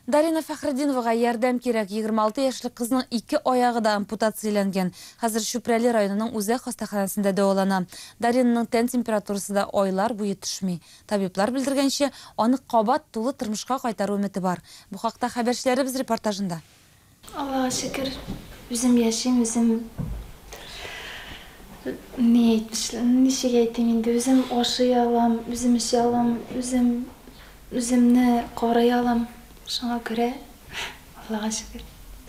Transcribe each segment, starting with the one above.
Дарина Фәхретдиновага ярдәм кирәк, егерме алты яшьлек кызның ике аягы да ампутацияләнгән. Хәзер Чүпрәле районының үзәк хастаханәсендә дәвалана. Даринаның тән температурасы да айлар буе төшми. Табиблар белдергәнчә, аны кабат тулы тормышка кайтару өмете бар. Бу хакта хәбәрчеләребез репортажында. Аллага шөкер, үзем яшим, үзем ни әйтмешли, ничек әйтим инде, үзем ашый алам, үзем эчә алам, үзем үземне карый алам. Шуңа күрә Аллага шөкер.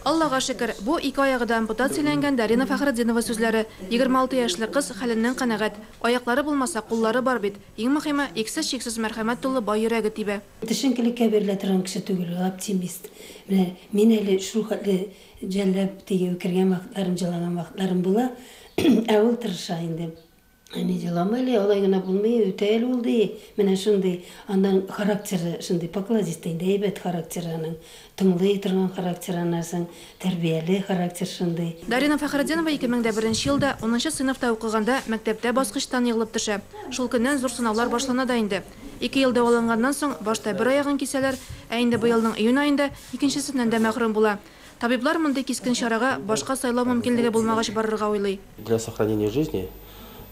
Аллага шөкер, бу ике аягы да ампутат сөйләнгән Дарина Фәхретдинова сүзләре. 26 яшьлек кыз хәленнән канәгать. Аяклары булмаса, куллары бар бит. Иң мөхиме, иксез-чиксез мәрхәмәт тулы бай йөрәге тибә. Төшенкелеккә бирелә торган кеше түгел ул, оптимист. Менә мин әле шул хәтле жәлләп, тегеп кергән вакытларым, җылаган вакытларым була. Ә ул тырыша инде. Әни, җылама әле, алай гына булмый, үтә әле ул, ди. Менә шундый. Аннан характеры шундый, покладистый инде, әйбәт характеры аның. Тыңлый торган характер анарсың, тәрбияле характер шундый. Дарина Фәхретдинова ике мең дә беренче елда унынчы сыйныфта укыганда мәктәптә баскычтан егылып төшә. Шул көннән зур сынаулар башлана да инде. Ике ел дәваланганнан соң, башта бер аягын кисәләр, ә инде быелның июнь аенда икенчесеннән дә мәхрүм була. Табиблар мондый кискен чарага башка сайлау мөмкинлеге булмагач барырга уйлый. Для сохранения жизни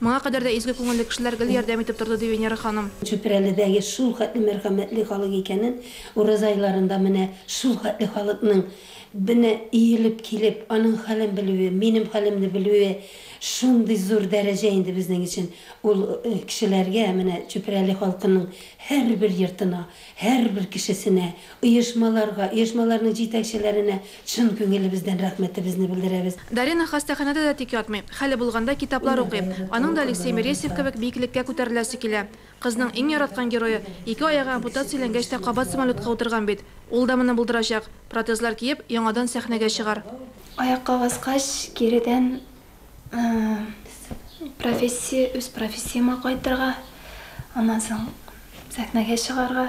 Моңа кадәр дә изге күңелле кешеләр гел ярдәм итеп торды, ди Венера ханым. Чүпрәледәге шул хәтле мәрхәмәтле халык икәнен, ураза айларында менә шул хәтле халыкның менә иелеп килеп, аның хәлен белүе, минем хәлемне белүе шундый зур дәрәҗә инде безнең өчен. Ул кешеләргә, менә Чүпрәле халкының һәрбер йортына, Һәрбер кешесенә, оешмаларга, оешмаларның җитәкчеләренә чын күңелебездән рәхмәтебезне белдерәбез. Дарина хастаханәдә дә тик ятмый. Хәле булганда китаплар укый. Аның да Алексей Мересьев кебек биеклеккә күтәреләсе килә. Кызның иң яраткан герое, ике аягы ампутацияләнгәч тә кабат самолетка утырган бит. Ул да моны булдырачак. Протезлар киеп, яңадан сәхнәгә чыгар. Аякка баскач, киредән Профессия, үз профессияма кайтырга, аннан соң сәхнәгә чыгарга.